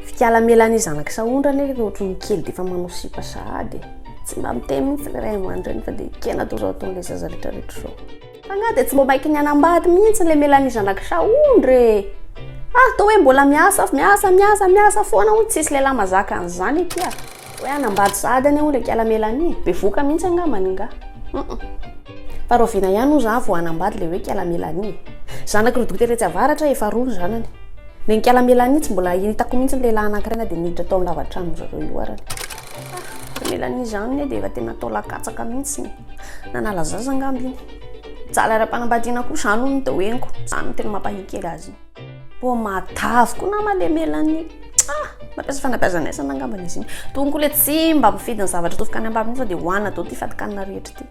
Fikala Mélanie zanak'i Sahondra anie efa ohatry ny kely dia efa manao sipa sahady e. Tsy mba miteny mihitsy ny ray aman-dreny fa dia kena atao izao ataon'ilay zaza rehetra rehetra izao. F'angaha dia tsy mba maiky ny hanambady mihitsy ilay Mélanie zanak'i Sahondra e. Ah, toa hoe mbola miasa, miasa, miasa, miasa foana hono, tsisy lehilahy mazaka an'izany akia. Hoe hanambady sahady anie hono ry kialamela anie e! Bevoka mihitsy angambany ingahy. Hum. Fa rahoviana ihany hozy aho vao hanambady ilay hoe kialamela anie e! Zanaky rodoty etsy avaratra efa roa ny zanany. Ilay nikialamela anie tsy mbola hitako mihitsy ny lehilahy anankiray na dia niditra tao amin'ny lava-tranon'izy ireo io ary. Ah! Ilay Melanie izany anie dia efa tena atao lahankatsaky mihitsy e! Nanala zaza angamba iny. Mijaly ara-panambadiana koa izany hono ny teo henoko. Izany no tena mampahihy kely azy iny. Pô matavy koa nama le melanie ah mampiasa fanabeazana aisana angambany izy iny tokony koa le tsy mba mifidy ny zavatra atsofoka any ambavy fa dia hohanina daholo ity fatikanina rehetra ity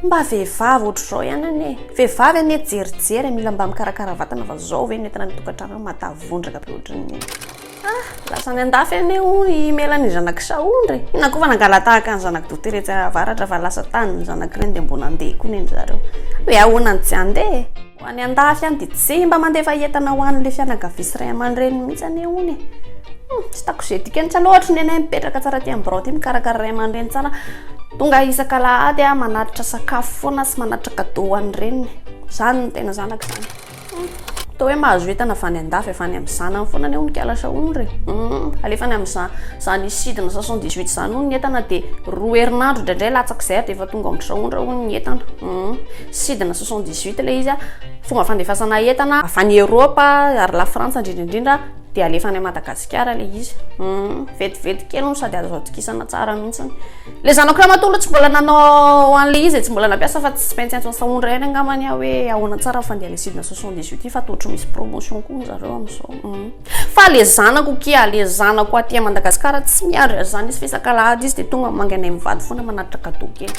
mba vehivavy ohatr'izao ihany anie vehivavy anie jerijery mila mba mikarakara vatana fa zao ve ny entina ny tokantrano matavy vondraka be ohatran'ny Ah! Lasa any andafy anie hono i Mela ny zanak'i Saondra e! Inona koa fa nangalatahaka ny zanak'i Doutera etsy avaratra fa lasa tany ny zanak'ireny dia mbola andeha koa neny zareo. Hoe ahoana no tsy handeha e! Ho any andafy any dia tsy mba mandefa entana ho an'ilay fianakavia sy ray aman-dreniny mihitsy anie hono e! Hum! Tsy hitako izay dikany tsaloha ohatry ny anay mipetraka tsara aty amin'ny birao aty mikarakara ray aman-dreny tsara tonga isaka alahady manatitra sakafo foana sy manatitra cadeau ho an'ny reniny. Izany no tena zanaka izany. Humm toa hoe mahazo entana avy any andafy avy any amin'ny zanany foana anie hono kala sa hono re? Humm alefany amin'izany izany sidina soixante dix huit izany hono ny entana dia roa herinandro indraindray latsak'izay ary dia efa tonga ao amin'ny traondra hono ny entana humm sidina soixante dix huit ilay izy a fomba fandefasana entana avy any Europe ary la Frantsa indrindra indrindra dia alefa any Madagasikara ilay izy humm vetivety kely no sady azo atokisana tsara mihitsy Le zanako ramatoa aloha tsy mbola nanao an'le izy e, tsy mbola nampiasa fa tsy maintsy antsoin'i Sahondra ihany angamba ny ahy hoe ahoana tsara ny fandehan'le sidina soixante dix huit ity fa toa ohatry ny misy promotion koa ny zareo amin'izao. Hum. Fa le zanako kia, le zanako aty à Madagascar tsy miandry an'izany izy fa isak'alahady izy dia tonga mangy anay mivady foana manatitra cadeau kely.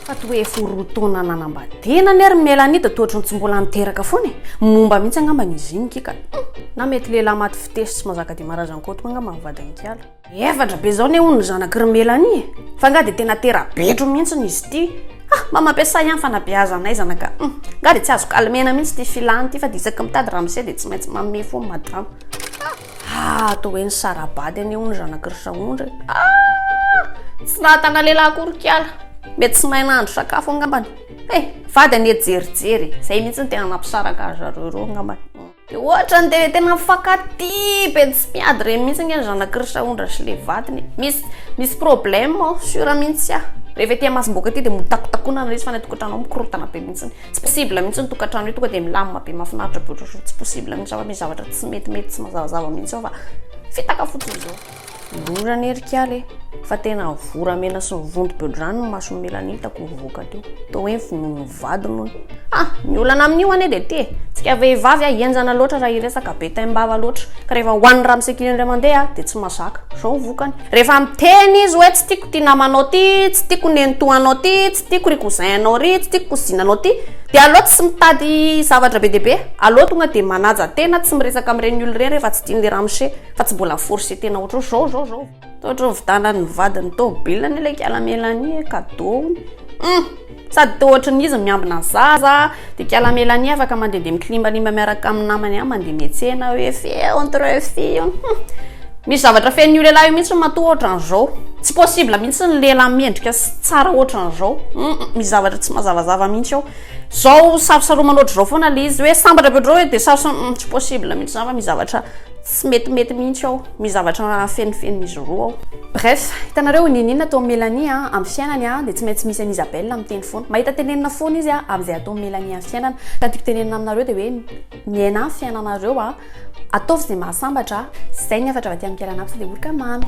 Fa toa efa roa taona nanambadiana anie ry Mélanie dia toa ohatry ny tsy mbola niteraka foana e, momba mihitsy angambany izy iny kia ka. Hum. Na mety lehilahy maty fitefy sy mazaka dia marazan'i Koto koa angamba ny vadin'i Kiala. Efatra be zao ne hono ny zanaky ry Melanie e! Fa nga de tena tera-betro mihintsiny izy ity! Ha! Mba mampiasay ihany fanabeazanay zanaka a! Nga de tsy azo calmena mihintsy ity filany ity fa de isaky mitady ramose de tsy maintsy manome fo madama! Ha! Toa hoe nisara-bady anie hono zanaky ry Saondra e! Ha! Tsy nahatana lehilahy akory kiala! Mety tsy mahay nahandro sakafo angambany! He! Vady anie jerijery e! Zay mihintsy no tena nampisaraka zareo roa angambany! Dia ohatra ny dia tena mifankatia be tsy miady ireny mihitsy ange ny zanak'i Risaondra sy ilay vadiny e. Misy, misy problème ao, sûr mihitsy aho. Rehefa ety Masimboka ety dia motakotakona ilay izy fa any an-tokantrano ao mikorontana be mihitsy. Tsy possible mihitsy ny tokantrano io, tonga dia milamina be mahafinaritra be ohatr'ohatran'ny tsy possible mihitsy fa misy zavatra tsy metimety, tsy mazavazava mihitsy ao fa fitaka fotsiny izao. Mivory anie ry kiala e, fa tena ny voramena sy ny vontom-beodrano ny mason'i Mélanie hitako nivoaka teo. Toa hoe vonoin'ny vadiny hono. Ha! Ny olana amin'io anie dia ity e, tsika vehivavy a, henjana loatra raha hiresaka, be taim-bava loatra, ka rehefa hohanin'ny ramosakely indray mandeha dia tsy mazaka. Izao ny vokany. Rehefa miteny izy hoe tsy tiako ity namanao ity, tsy tiako nenitoanao ity, tsy tiako ry cousin-nao ry, tsy tiako kozinanao ity, dia aleo tsy mitady zavatra be dia be, aleo tonga dia manaja tena, tsy miresaka amin'ireny olona ireny rehefa tsy tian'ilay ramose. Fa tsy mbola force tena ohatro zao zao zao. Toa ohatro vitanan'ny vadin'ny tômôbilina anie ilay kiala Melanie e, cadeau-ny. Hum! Sady toa ohatry ny izy miambina zaza, dia kiala Melanie afaka mandehandeha miklimbalimba miaraka amin'ny namany ihany mandeha miantsena hoe fille entre fille. Hum! Misy zavatra fenon'io lehilahy io mihitsy matoa ohatry an'izao. Tsy possible mihitsy ny lehilahy mendrika sy tsara ohatry an'izao. Hum! Misy zavatra tsy mazavazava mihitsy ao. Zao sarosaromana ohatry zao foana ilay izy hoe sambatra be ohatry zao hoe dia sarosa, hum! Tsy possible mihitsy izany fa misy zavatra. Tsy metimety mihintsy aho. Misy zavatra fenofeno izy roa ao. Bref, hitanareo niniana atao Melanie a, am fiainany a, dia tsy maintsy misy an Isabelle miteny foana. Mahita tenenina foana izy a, am izay atao Melanie am fiainana. Ka ny tiako tenenina aminareo dia hoe miaina am fiainanareo a, ataovy izay mahasambatra a. Izay ny hafatra avy aty am Mickaël Anapsy dia oroka mamy.